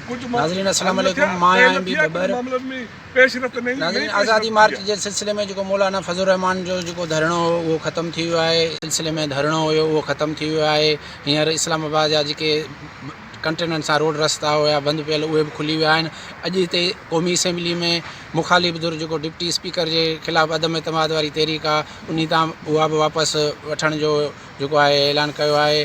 ناظرين السلام عليڪم مان آهيان ايم بي ٻٻر ناظرين آزادي مارچ جي سلسلي ۾ جيڪو مولانا فضل الرحمان جو جيڪو ڌرڻو هو اهو ختم ٿي ويو آهي سلسلي ۾ ڌرڻو هيو اهو ختم ٿي ويو آهي هينئر اسلام آباد جا جيڪي ڪنٽينرن سان روڊ رستا هيا بند پيل اهي به کلي ويا آهن اڄ هتي قومي اسيمبلي ۾ مخالف ڌر جيڪو ڊپٽي اسپيڪر جي خلاف عدم اعتماد واري تحريڪ آهي انهي تان اها به واپس وٺڻ جو جيڪو آهي اعلان ڪيو آهي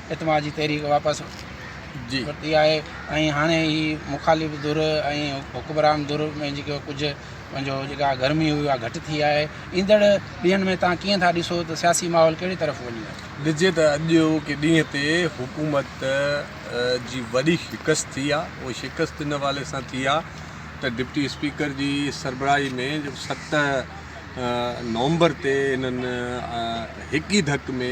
اتما جي تحريڪ واپس ورتي آهي ۽ هاڻي هي مخالف ڌر ۽ حڪمران ڌر ۾ جيڪو ڪجهه پنهنجو جيڪا گرمي هئي اها گهٽ ٿي آهي ايندڙ ڏينهن ۾ تان ڪيئن ٿا ڏسو ته سياسي ماحول ڪهڙي طرف وڃي ڏسجي ته اڄ اوکي ڏينهن تي حڪومت جي وڏي شڪست ٿي آهي اهو شڪست ان حوالي سان ٿي آهي ته ڊپٽي اسپيڪر جي سربراهي ۾ جو ست نومبر تي هنن هڪ ئي ڌڪ ۾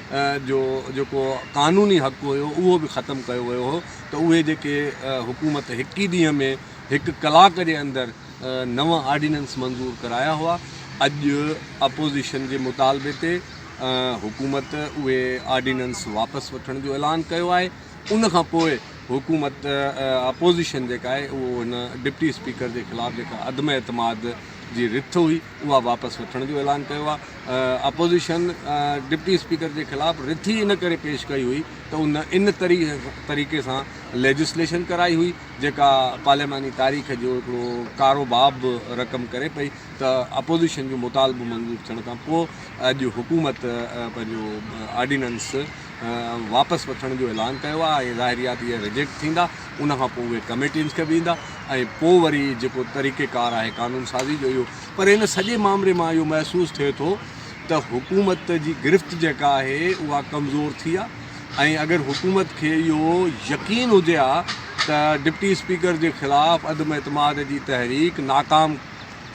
جو جيڪو قانوني حق هيو اهو به ختم ڪيو ويو هو ته اهي جيڪي حڪومت هڪ ئي ڏينهن ۾ هڪ ڪلاڪ جي اندر نو آرڊيننس منظور ڪرايا هئا اڄ اپوزيشن جي مطالبي تي حڪومت اهي آرڊيننس واپس وٺڻ جو اعلان ڪيو آهي ان کان پوء حڪومت اپوزيشن جيڪا آهي اهو هن ڊپٽي اسپيڪر جي خلاف جيڪا عدم اعتماد جي رٿ هئي اها واپس وٺڻ جو اعلان ڪيو آهي، اپوزيشن ڊپٽي اسپيڪر جي خلاف رٿي ان ڪري پيش ڪئي هئي ته ان ان طريقي سان ليجسليشن ڪرائي هئي جيڪا پارلياماني تاريخ جو هڪڙو ڪارو باب به رقم ڪري پئي ته اپوزيشن جو مطالبو منظور ٿيڻ کان پوء اڄ حڪومت پنهنجو آرڊيننس واپس وٺڻ جو اعلان ڪيو آهي ۽ ظاهري آهي ته اهي ريجيڪٽ ٿيندا. ان کان پوء اهي ڪميٽينز کي ويندا ۽ پوء وري جيڪو طريقه ڪار آهي قانون سازي جو اهو پر ان سڄي مامري مان اهو محسوس ٿئي ٿو ته حڪومت جي گرفت جيڪا آهي اها ڪمزور ٿي آهي ۽ اگر حڪومت کي اهو يقين هجي ها ته ڊپٽي اسپيڪر جي خلاف عدم اعتماد جي تحريڪ ناڪام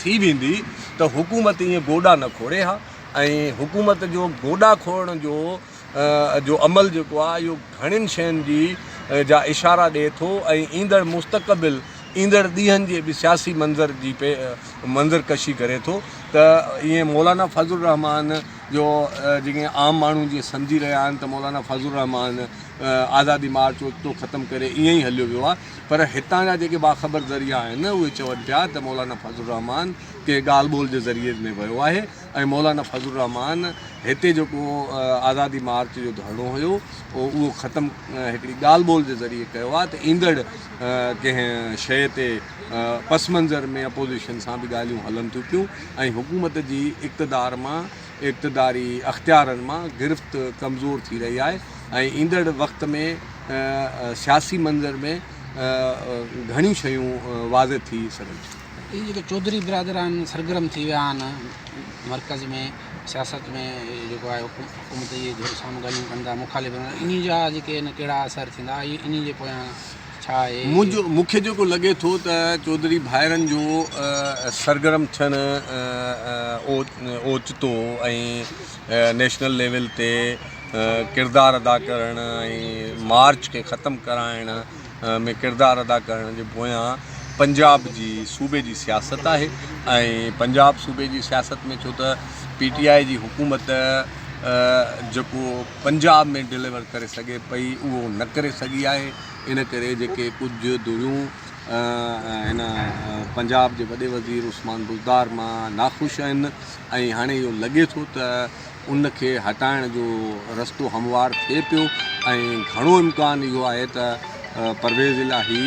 ٿي ويندي ته حڪومت ايئن گوڏا نه کوڙي ها ۽ حڪومت جو گوڏا کوڙڻ جو جو عمل جيڪو آهي اهو گهڻين شين جي جا اشارا ڏئي ٿو ۽ ايندڙ مستقبل ايندڙ ڏينهن جي به سياسي منظر جي منظر ڪشي ڪري ٿو ته ايئن مولانا فضل الرحمان جو جيڪي عام ماڻهو جيئن سمجهي رهيا آهن ته مولانا فضل الرحمان آزادي مارچ اوچتو ختم ڪري ايئن ئي هليو ويو آهي پر هتان جا جيڪي باخبر ذريعا آهن اهي چون پيا ته مولانا فضل الرحمان ڪنهن ڳالهه ٻولهه جي ذريعي ۾ ويو آهي ۽ مولانا فضل الرحمان هتي جيڪو آزادي مارچ جو ڌرڻو هيو اهو ختم هڪڙي ڳالهه ٻولهه جي ذريعي ڪيو آهي ته ايندڙ ڪنهن شيء تي پس منظر ۾ اپوزيشن سان به ڳالهيون هلن ٿيون پيون ۽ حڪومت جي اقتدار مان اقتداري اختيارن مان گرفت ڪمزور ٿي رهي آهي ۽ ايندڙ وقت ۾ سياسي منظر ۾ گهڻيون شيون واضح ٿي سگهن ٿيون هي جيڪي چوڌري برادر آهن سرگرم ٿي ويا آهن مرڪز ۾ سياست ۾ جيڪو آهي حڪومت جي ڌر سان ڳالهيون ڪن ٿا مخالف انهي جا جيڪي آهن ڪهڙا اثر ٿيندا اهي انهي جي پويان ڇا آهي منهنجو مون کي جيڪو لڳي ٿو ته چوڌري ڀائرن جو سرگرم ٿيڻ اوچتو ۽ نيشنل ليول تي ڪردار ادا ڪرڻ ۽ مارچ کي ختم ڪرائڻ ۾ ڪردار ادا ڪرڻ جي پويان پنجاب جي صوبي جي سياست آهي ۽ پنجاب صوبي جي سياست ۾ ڇو ته پي ٽي آء جي حڪومت جيڪو پنجاب ۾ ڊليور ڪري سگهي پئي اهو نه ڪري سگهي آهي ان ڪري جيڪي ڪجهه ڌريون هن پنجاب جي وڏي وزير عثمان بزدار مان ناخوش آهن ۽ هاڻي اهو لڳي ٿو ته ان کي هٽائڻ جو رستو هموار ٿئي پيو ۽ گهڻو امڪان اهو آهي ته پرويز الاهي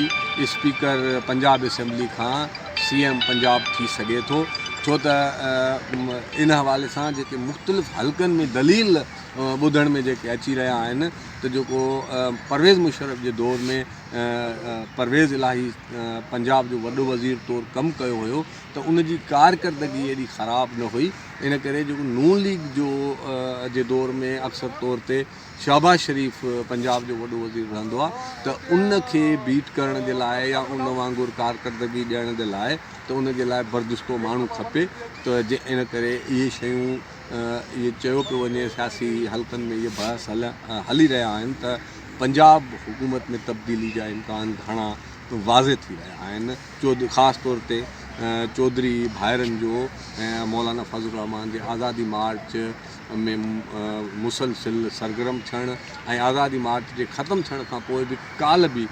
اسپيڪر پنجاب اسيمبلي کان سي ايم پنجاب ٿي سگهي ٿو ڇو ته ان حوالي سان جيڪي مختلف حلقن ۾ دليل ٻڌڻ ۾ جيڪي اچي رهيا آهن ته جيڪو پرويز مشرف جي دور ۾ پرويز الاهي پنجاب جو وڏو وزير طور ڪم ڪيو هيو ته ان جي ڪارڪردگي ايڏي خراب نه هئي ان ڪري جو نون ليگ جو جي دور ۾ اڪثر طور تي شهباز شريف پنجاب جو وڏو وزير رهندو آ ته ان کي بيٽ ڪرڻ جي لاء يا ان وانگر ڪارڪردگي ڏيڻ جي لاء ته ان جي لاء بردشتو ماڻهو کپي ته جي ان ڪري اهي شيون اهي چيو پيو وڃي سياسي حلقن ۾ اهي بحث هلي رهيا آهن ته پنجاب حڪومت ۾ تبديلي جا امڪان گهڻا واضح ٿي رهيا آهن خاص طور تي چوڌري ڀائرن جو ۽ مولانا فضل الرحمان جي آزادي مارچ ۾ مسلسل سرگرم ٿيڻ ۽ آزادي مارچ جي ختم ٿيڻ کان پوء به ڪالهه به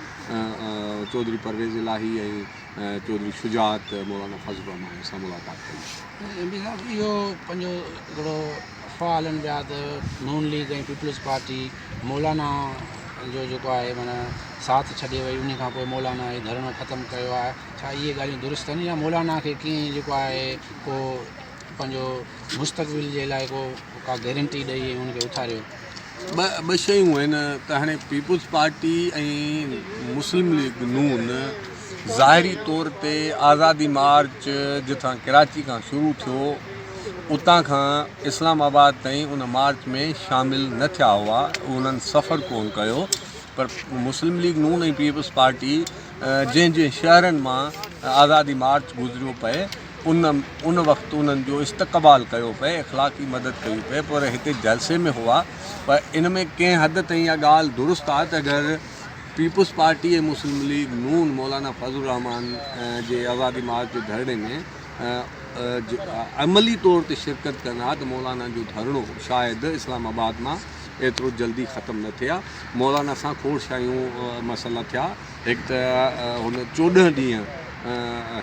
چوڌري پرويز الاهي ۽ چوڌري شجاعت مولانا فضل الرحمان سان ملاقات ڪئي. ايم پي صاحب اهو پنهنجو هڪڙو افواهه هلن پيا ته نون ليگ ۽ پيپلز پارٽي مولانا جو جيڪو آهي معنيٰ ساٿ ڇڏي وئي انهي کان پوء مولانا هي ڌرڻو ختم ڪيو آهي ڇا اهي ڳالهيون درست آهن يا مولانا کي ڪنهن جيڪو آهي ڪو پنهنجو مستقبل جي لاء ڪو ڪا گيرنٽي ڏئي ان کي اٿاريو ٻه شيون آهن ته هاڻي پيپلز پارٽي ۽ مسلم ليگ نون ظاهري طور تي آزادي مارچ جتان ڪراچي کان شروع ٿيو اتان کان اسلام آباد تائين ان مارچ ۾ شامل نه ٿيا هئا انهن سفر ڪون ڪيو پر مسلم ليگ نون ۽ پيپلز پارٽي جنهن جنهن شهرن مان آزادي مارچ گذريو پئي ان وقت انهن جو استقبال ڪيو پئي، اخلاقي مدد ڪئي پئي پر هتي جلسي ۾ هئا پر ان ۾ ڪنهن حد تائين اها ڳالهه درست آهي ته اگر پيپلز پارٽي ۽ مسلم ليگ نون مولانا فضل الرحمان جي آزادي مارچ جي ڌرڻي ۾ عملي طور تي شرڪت ڪن ها ته مولانا جو ڌرڻو شايد اسلام آباد مان ايترو جلدي ختم نه ٿئي ها، مولانا سان کوڙ شايون مسئلا ٿيا. هڪ ته هن چوڏهن ڏينهن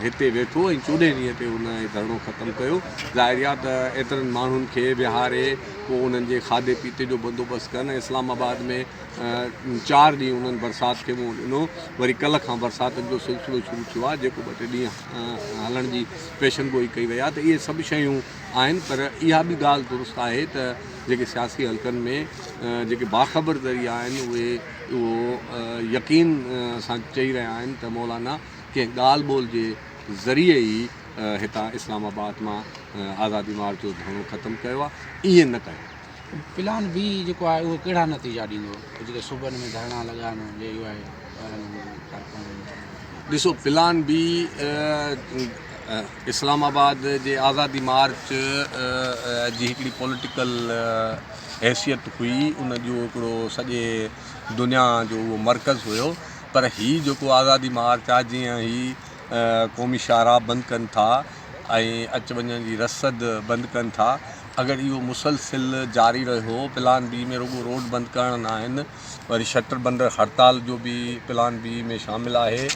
هتي ويٺو ۽ چوڏهين ڏينهن تي هن هي ڌرڻو ختم ڪيو. ظاهر آهي ته ايترن ماڻهن کي ويهاري پوء انهن جي کاڌي پيتي جو بندوبست ڪن ۽ اسلام آباد ۾ چار ڏينهن انهن برسات کي منهن ڏنو. وري ڪلهه کان برساتن جو سلسلو شروع ٿيو آهي جيڪو ٻه ٽي ڏينهن هلڻ جي پيشن گوئي ڪئي وئي آهي ته اهي سڀ شيون آهن پر اها به ڳالهه درست آهي ته جيڪي سياسي حلقن ۾ جيڪي باخبر ذريعا آهن اهي اهو يقين سان چئي رهيا آهن ته مولانا ڪنهن ڳالهه ٻولهه جي ذريعي ئي هتان اسلام آباد مان آزادي مارچ جو ڌرڻو ختم ڪيو آهي، ائين نه ڪيو. پلان بي جيڪو آهي اهو ڪهڙا نتيجا ڏيندو جيڪي صوبن ۾ ڌرڻا لڳائڻ جي يو آء وارن ڪارڪنن جو چوڻ آهي. ڏسو پلان بي اسلام آباد جي آزادي مارچ جي هڪڙي پوليٽيڪل حيثيت هئي ان جو هڪڙو سڄي دنيا جو اهو مرڪز هيو پر هي جيڪو آزادي مارچ آ جيئن هي قومي شاهراهه بند ڪن ٿا ۽ اچ وڃ جي رسد بند ڪن ٿا اگر اهو مسلسل جاري رهيو پلان بي ۾ رڳو روڊ بند ڪرڻ ناهن وري شٽر بندر هڙتال جو به پلان بي ۾ شامل آهي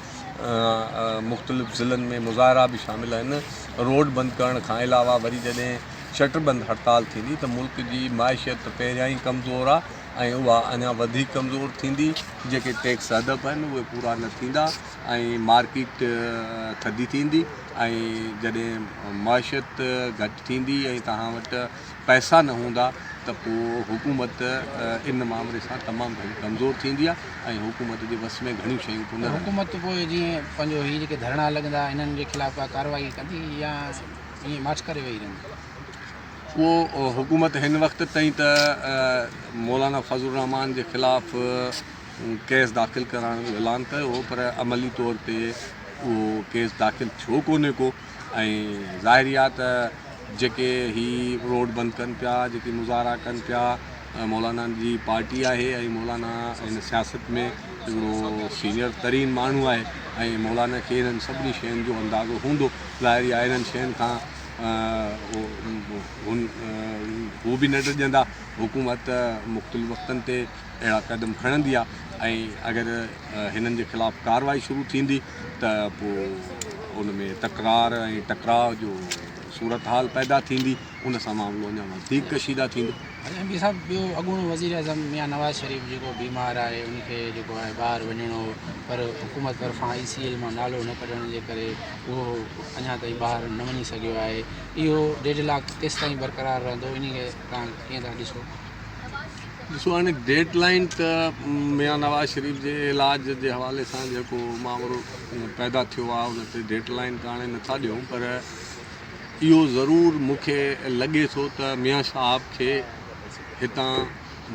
مختلف ضلعن ۾ مظاهرا به شامل آهن روڊ بند ڪرڻ کان علاوه وري جڏهن شٽر بند هڙتال ٿيندي ته ملڪ جي معيشت ته پهريان ئي ڪمزور آ ۽ اها اڃا وڌيڪ ڪمزور ٿيندي، جيڪي ٽيڪس هدف آهن اهي پورا نه ٿيندا ۽ مارڪيٽ ٿڌي ٿيندي ۽ جڏهن معيشت گهٽ ٿيندي ۽ توهان وٽ پئسا نه هوندا ته پوء حڪومت ان معاملي سان تمام گهڻي ڪمزور ٿيندي آ ۽ حڪومت جي وس ۾ گهڻيون شيون ڪونه رهنديون. حڪومت پوء جيئن پنهنجو هي جيڪي ڌرڻا لڳندا انهن جي خلاف ڪا ڪارروائي ڪندي يا؟ ائين ماٺ ڪري ويهي رهندو. اهو حڪومت هن وقت تائين ته مولانا فضل الرحمان جي خلاف ڪيس داخل ڪرائڻ جو اعلان ڪيو هو پر عملي طور تي اهو ڪيس داخل ٿيو ڪونهي ڪو ۽ ظاهري آهي ته جيڪي هي روڊ بند ڪن پيا جيڪي مظاهرا ڪن پيا مولانا جي پارٽي آهي ۽ مولانا هن سياست ۾ هڪڙو سينئر ترين ماڻهو آهي ۽ مولانا کي هنن سڀني شين جو اندازو هوندو ظاهري آهي انهن شين کان هن هو به نه ڊڄندا حڪومت مختلف وقتن تي اهڙا قدم کڻندي آهي ۽ اگر هنن جي خلاف ڪارروائي شروع ٿيندي ته پو ان ۾ تڪرار ۽ ٽڪراء جو صورتحال پيدا ٿيندي ان سان معاملو اڃا وڌيڪ ڪشيده ٿيندو ايم پي صاحب ٻيو اڳوڻو وزير اعظم ميان نواز شريف جيڪو بيمار آهي ان کي جيڪو آهي ٻاهر وڃڻو پر حڪومت طرفان آئي سي ايل مان نالو نه ڪڍڻ جي ڪري اهو اڃا تائين ٻاهر نه وڃي سگهيو آهي اهو ڊيڊ لاڪ ڪيستائين برقرار رهندو انهي کي توهان ڪيئن ٿا ڏسو؟ ڏسو هاڻي ڊيڊ لائين ته ميان نواز شريف جي علاج جي حوالي سان جيڪو ماورو پيدا ٿيو آهي ان تي ڊيڊ لائين ته هاڻي نٿا ڏيون پر اهو ضرور مون کي لڳي ٿو ته ميان صاحب کي هتان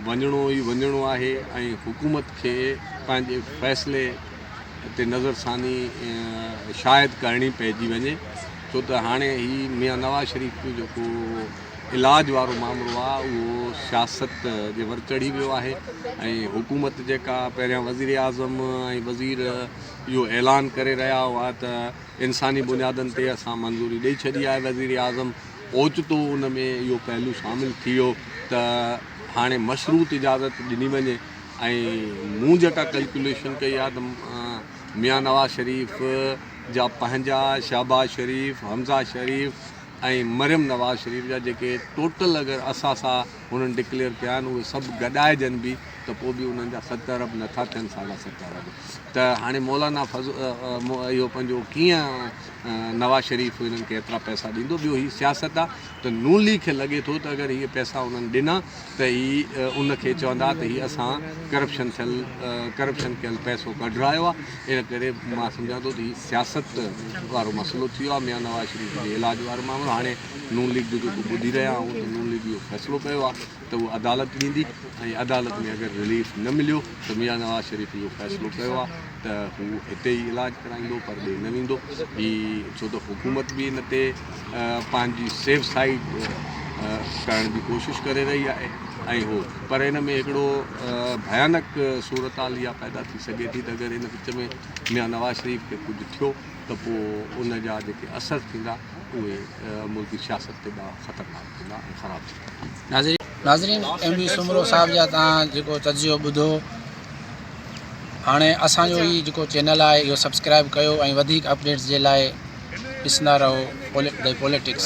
وڃڻو ئي وڃڻو آهي ۽ حڪومت کي پنهنجي فيصلي تي نظرثاني شايد ڪرڻي پئجي وڃي ڇو ته هاڻي هي ميان نواز شريف جو جيڪو علاج وارو معاملو آهي اهو سياست جي ور چڙهي ويو آهي ۽ حڪومت جيڪا پهريان وزير اعظم ۽ وزير اهو اعلان ڪري رهيا هئا ته انساني بنيادن تي اسان منظوري ڏئي ڇڏي آهي وزير اعظم اوچتو ان ۾ اهو پهلو شامل ٿي ويو ته هاڻي مشروط اجازت ڏني وڃي ۽ مون جيڪا ڪلڪيوليشن ڪئي آهي ته ميان نواز شريف جا پنهنجا، شهباز شريف، حمزه شريف ۽ مريم نواز شريف جا جيڪي ٽوٽل اگر اثاثا هنن ڊڪليئر ڪيا آهن اهي سڀ گڏائجن به ته پوء به انهن جا ست ارب نه ٿا ٿين ساڍا ست ارب ته هاڻي مولانا اهو پنهنجو ڪيئن نواز شريف هنن کي ايترا پئسا ڏيندو ٻيو هي سياست آ ته نون ليگ کي لڳي ٿو ته اگر هي پئسا انهن ڏنا ته هي ان کي چوندا ته هي اسان ڪرپشن ٿيل ڪرپشن ڪيل پئسو ڪڍرايو آ ان ڪري مان سمجهان ٿو ته هي سياست وارو مسئلو ٿي ويو آ ميان نواز شريف جي علاج وارو معاملو هاڻي نون ليگ جو جيڪو ٻڌي رهيا آهون ته نون ليگ اهو فيصلو ڪيو آ ته اهو عدالت ڏيندي ۽ عدالت ۾ اگر رليف نه مليو ته ميان نواز شريف اهو فيصلو ڪيو آهي ته هو هتي ئي علاج ڪرائيندو پر ڏي نه ويندو هي ڇو ته حڪومت به ان تي پنهنجي سيف سائيڊ ڪرڻ جي ڪوشش ڪري رهي آهي ۽ هو پر ان ۾ هڪڙو ڀيانڪ صورتحال اها پيدا ٿي سگهي ٿي ته اگر ان وچ ۾ ميان نواز شريف کي ڪجهه ٿيو ته پوء ان جا جيڪي اثر ٿيندا اهي ملڪي سياست تي ڏاهه خطرناڪ ناظرين ايم ڊي سومرو صاحب جا توهان جيڪو تجزيو ٻڌو هاڻي اسان جو هي جيڪو چينل آهي اهو سبسڪرائب ڪيو ۽ وڌيڪ اپڊيٽس جي لاء ڏسندا رهو پولٽڪس